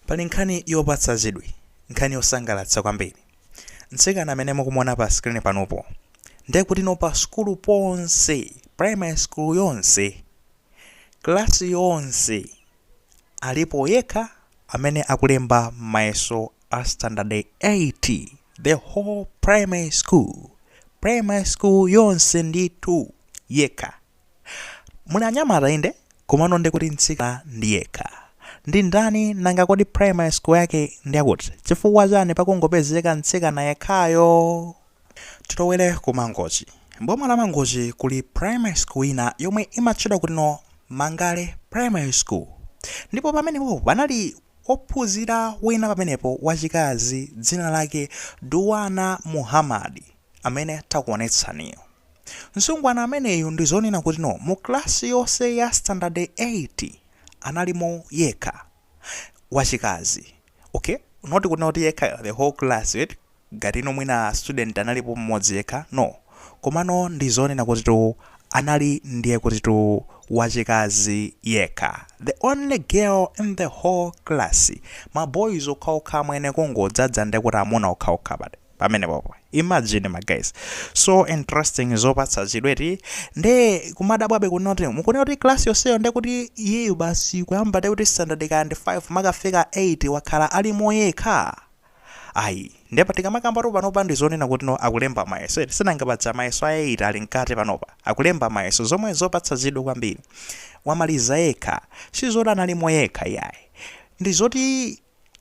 Pali nkhani yopatsa chidwi, nkhani yosangalatsa kwambiri. Mtsikana amene mukumuona pa screen panopo, ndiye kutino pa sukulu ponse, primary school yonse, class yonse, alipo yekha amene akulemba mayeso a standard 8, the whole primary school, primary school yonse ndithu, yekha. Muli anyamata inde, komano ndiye kuti mtsikana ndi yekha. Ndi ndani nanga kodi primary school yake ndi yakuti? Chifukwa chani pakungopezeka mtsikana yekhayo? Tilowere ku Mangochi. M'boma la Mangochi kuli primary school ina yomwe imatchedwa kutino Mangale primary school. Ndipo pamenepopo panali wophunzira wina pamenepo wachikazi dzina lake Duwana Muhamadi amene takuonetsaniyu. Msungwana ameneyu ndi zonena kutino mu class yonse ya standard 8 analimo yekha wachikazi okay not kunena kuti yekha the whole class eti ngati no mwina student analipo m'modzi yekha no komano ndi zonena kutitu anali ndiye kutitu wachikazi yekha the only girl in the whole class ma boys okhaokha amwene kungodzadza ndiye kuti amuna okhaokha pati pamenepopo imagine ma guys so interesting zopatsa chidwi eti nde kumadabwabe kuti mukunena kuti class yonseyo nde kuti iyeyu basi kuyamba nde kuti standard kaya ndi 5 mpaka kufika 8 wakhala alimo yekha ayi nde pa tikamakambatu panopa ndi zonena kutino akulemba mayeso eti sinanga paja mayeso a 8 ali mkati panopa akulemba mayeso zomwe zopatsa chidwi kwambiri wamaliza yekha sizoti analimo yekha iyayi ndi zoti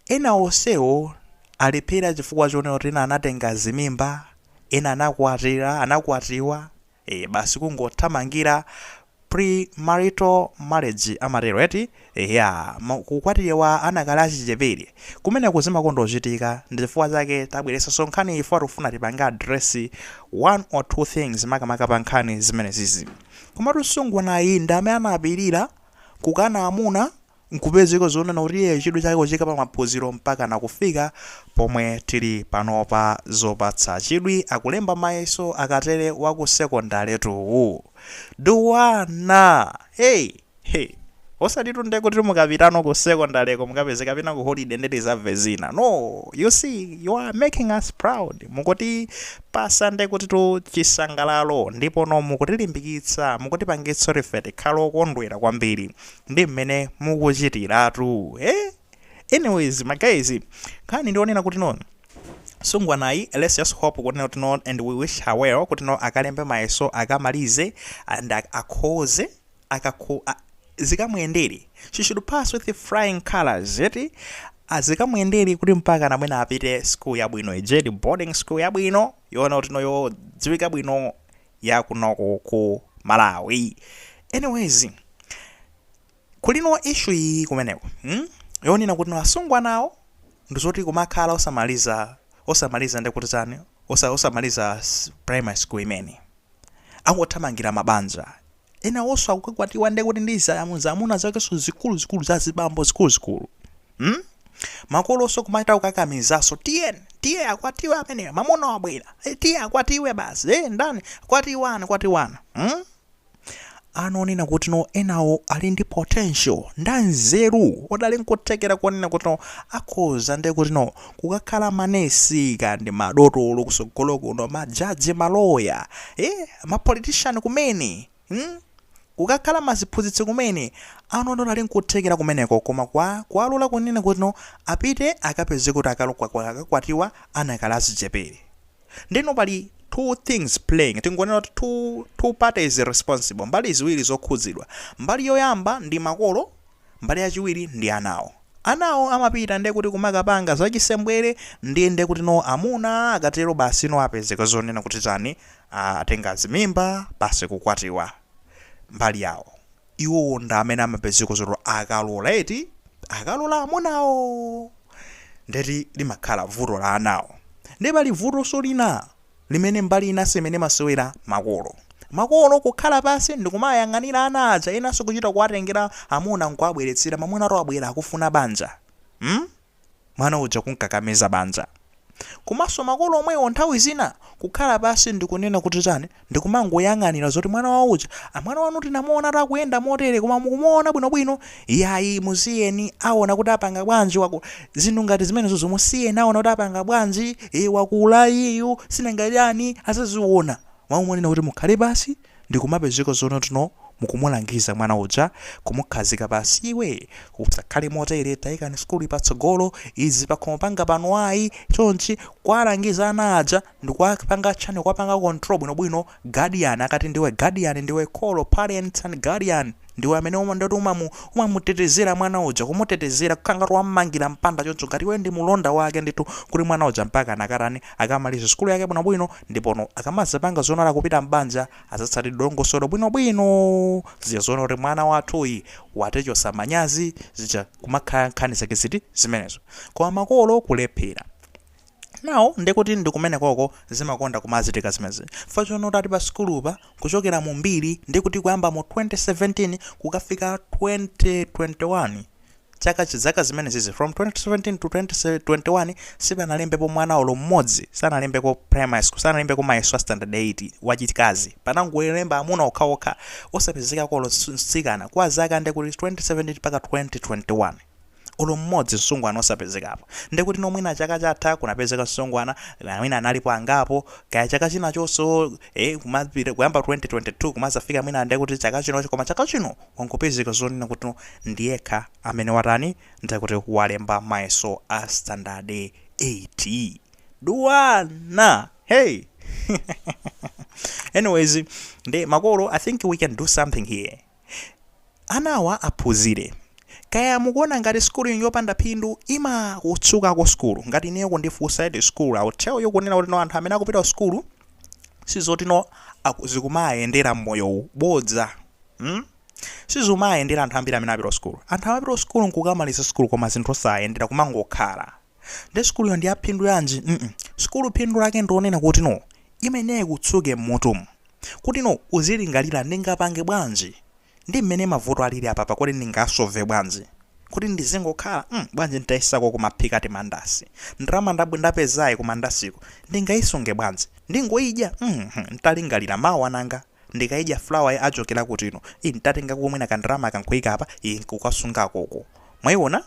Ena onsewo alephera chifukwa chonena kuti ena anatenga zimimba, ena anakwatira, anakwatiwa, eeh, basi kungothamangira premarital marriage amatero eti, eya, kukwatiwa anakali achichepere. Kumeneko zimakondochitika, ndi chifukwa chake tabweretsanso nkhaniyi chifukwa tikufuna tipange address one or two things makamaka pa nkhani zimenezizi. Komatu msungwanayu ndi amene anapirira kukana amuna Nkupezeka zonena kuti iyeyo chidwi chake kuchiika pa maphunziro mpakana kufika pomwe tili panopa zopatsa chidwi akulemba mayeso akatere wa ku secondary tu uyu Duwana hey he osatitu nde kuti mukapitano ku secondary ko mukapeze kapena ku holiday nde tizamve zina no you see you are making us proud mukutipatsa nde kutitu chisangalalo ndipono mukutilimbikitsa mukutipangitsa kuti ife tikhale okondwera kwambiri ndi mmene mukuchitiratu eh? anyways my guys nkhani ndi yonena kuti no nsungwanayu let's just hope kuti not non and we wish her well kuti no akalembe mayeso akamalize and ak- akhoze akakho a- zikamuyendere she should pass with flying colors yeti azikamuyendere kuti mpaka na mwina apite school yabwino ijedi boarding school yabwino yoona kuti no yodziwika bwino ya kunoko ku malawi anyways kulino issue iyi kumeneko hmm? yonena kuti asungwanawo ndizoti kumakhala osamaliza osamaliza ndikuti tani osa, osamaliza s- primary school mmene akuthamangira mabanja enawoso akukakwatiwa nde kuti ndi zaamu zaamuna zakeso zikuluzikulu zazibambo zikuluzikulu hmm? makoloso kumachita kukakamizaso tiye tiye akwatiwe ameneyo mamuna wabwera Eh, tiye akwatiwe basi e ndani kwatiwana kwatiwana hmm? ana oonena kuti no enawo ali ndi potential ndi anzeru oti ali nkuthekera konena kuti no akhoza nde kuti no kukakhala ma nurse kaya ndi ma dotolo kusogolo kuno ma judge ma lawyer ee ma politician kumene hmm? kukakhala maziphunzitsi kumene ana oti ali nkuthekera kumeneko koma kwa kuwalola kunena kuti no apite akapeze kuti akakwatiwa adakali achichepere nde no pali two things playing tingonena kuti two, two parties responsible mbali ziwiri zokhudzidwa mbali yoyamba ndi makolo Mbali yachiwiri ndi anawo. Anawo amapita nde kuti kumakapanga zachisembwere ndiye nde kuti no amuna akatero basi no apezeka zonena kuti tani aah atenga zimimba basi kukwatiwa. Mbali yawo. Iwowo ndi amene amapezeka zoti akalola eti akalola amunawo nde eti limakhala vuto la anawo. Nde pali vutonso lina. limene mbali inanso imene imasewera makolo makolo kukhala pansi ndikumayang'anira ana aja enanso kuchita kuwatengera amuna nkuwabweretsera mamunatu wabwera akufuna banja mm? mwana uja kumkakamiza banja komanso makolo omwewo nthawi zina kukhala pansi ndikunena kuti tani ndikumangoyang'anira zoti mwana wawo uja "Ah, mwana wanu tinamuona akuyenda motere koma mukumuona bwinobwino Iyayi musiyeni awona kuti apanga bwanji wakula zinthu ngati zimenezozo musiyeni awona kuti apanga bwanji e, wakula iyeyu si nanga chani azaziwona mmalo monena kuti mukhale pasi ndikumapezeka zono tno mukumulangiza mwana uja kumukhazika pasi iwe usakhale motere taikani sukuluyi patsogolo izi pakhomo panga pano ayi chonchi kuwalangiza ana aja ndikuwapanga chani kuwapanga control bwinobwino guardian akuti ndiwe guardian ndiwe kholo parents and guardian ndiwe amene uma ndoti umamu umamutetezera mwana uja kumutetezera kukhala ngati wammangira mpanda choncho ngati iwe ndi mulonda wake ndithu kuti mwana uja mpaka akatani akamaliza sukulu yake bwinobwino ndipono akamazapanga zonena kupita m'banja azatsatire dongosolo bwinobwino zija zoona kuti mwana wathuyi watichosa manyazi zija kumakhala nkhani zake ziti zimenezi koma makolo kulephera now ndekuti ndi kumenekoko zimakonda kumachitika zimenezi chifukwa chonena kuti ati pa sukulupa kuchokera mu mbiri ndikuti kuyamba mu 2017 kukafika 2021 chaka zaka zimenezizi from 2017 to 2021 sipanalembepo mwana olo mmodzi sanalembeko primary school sanalembeko mayeso a standard 8 wachikazi panangolemba amuna okhaokha osapezekako olo mtsikana kwa zaka ndekuti 2017 mpaka 2021 olo mmodzi msungwana osapezekapo ndekutino mwina chaka chatha kunapezeka msungwana mwina analipo angapo kaya chaka china chonso kuyamba 2022 kumazafika mwina ndekuti chaka chino koma chaka chino wangopezeka zonena kuti ndiyekha amene watani ndekuti walemba mayeso a standard 8 duwana hey anyways ndi makolo i think we can do something here Anawa aphunzire. Kaya mukuona ngati school ino yopanda phindu imakutsukako school. Ngati ineyo kundifunsa eti school I will tell you kunena kuti no anthu amene akupita ku school sizoti no aku, zikumaayendera mmoyo uwu. Bodza. Hmm? Sizumaayendera anthu ambiri amene apita ku school. Anthu amapita ku school nkukamaliza school koma zinthu osayendera kumangokhala. Nde sukuluyo ndi ya phindu yanji? mm sukulu phindu lake ndi lonena kuti no imeneyi ikutsuke mmutumu kuti no uzilingalira ndingapange bwanji ndi mmene mavuto alili apapa kodi ndingasolve bwanji kodi ndizingokhala mm bwanji ntayesako kumaphikako timandasi ndalama nda ndapezayi kumandasiku ndingaisunge bwanji ndingoidya mm ntalingalira mawa nanga ndikaidya flour achokera kuti ino ii ntatengako mwina ka ndalama aka nkuika apa ii nkukasungako uku mwaiona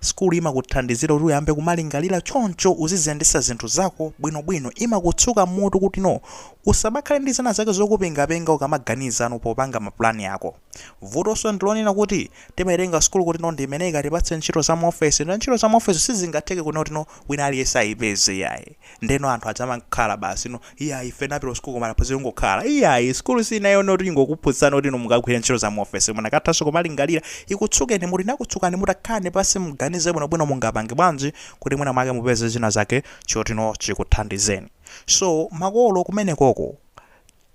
Sukulu imakuthandizira kuti uyambe kumalingalira choncho uziziyendesa zinthu zako bwino bwino imakutsuka m'mutu kuti no usamakhale ndi zina zake zokupengapenga ukamaganiza no popanga mapulani ako. Vutoso ndilonena kuti timaitenga sukulu kutino ndiimene ikatipatse ntchito za muofesi nde ntchito za muofesi sizingatheke kunena kutino wina aliyense ayipeze iyayi ndeno anthu adzamangokhala basi inu iyayi ife tinapita ku sukulu koma taphunzira kungokhala iyayi sukulu siinanena yoti ingokuphunzitsani kuti inu mukagwire ntchito za muofesi mukanathanso kumalingalira ikutsukeni mutu inakutsukani mutu takhalani pansi muganize bwinobwino mungapange bwanji kuti mwina mwake mupeze china chake chotino chikuthandizeni so makolo kumenekoko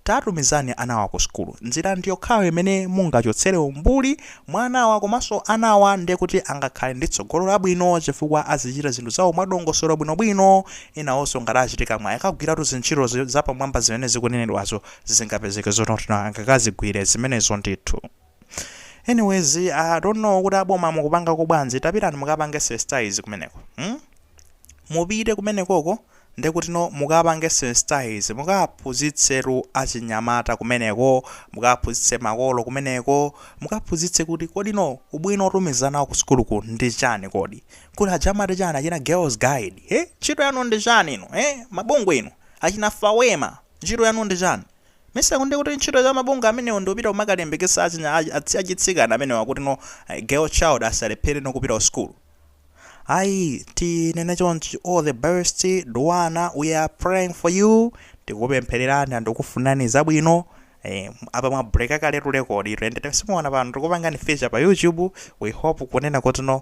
Tatumizani anawa ku sukulu. Njira ndi yokhayo imene mungachotsere umbuli mwa anawa komanso anawa ndiye kuti angakhale ndi tsogolo labwino chifukwa azichita zinthu zawo mwadongosolo bwinobwino. Enawonso ngati achitika mwayi akagwiratu zintchito zapamwamba zimene zikunenedwazo, zingapezeke zoti angakazigwire zimenezo ndithu. anyways i don't know kuti aboma mukupangako bwanji tapitani mukapange sensitize kumeneko hmm? mupite kumenekoko ndekutino mukapange sensitize mukaphunzitsetu achinyamata kumeneko mukaphunzitse makolo kumeneko mukaphunzitse kuti kodino ubwino otumizanawo ku sukuluku ndi chani kodi kuti aja amati chani achina Girl Guides he ntchito yanu ndi chani inu he mabungwe inu achina fawema ntchito yanu ndi chani Mesa ndikuti ntchito za mabungwe amenewo ndiupita kumakalimbikitsa achinya achitsikana amenewa kuti no girl child asalephere no kupita kusukulu ayi tinene choncho all the best Duwana we are praying for you tikupemphererani and tikufunirani zabwino Eh, apa mwa breaka kaletu record ito ende simukuona pano tikupangani feature pa YouTube we hope kunena kuti no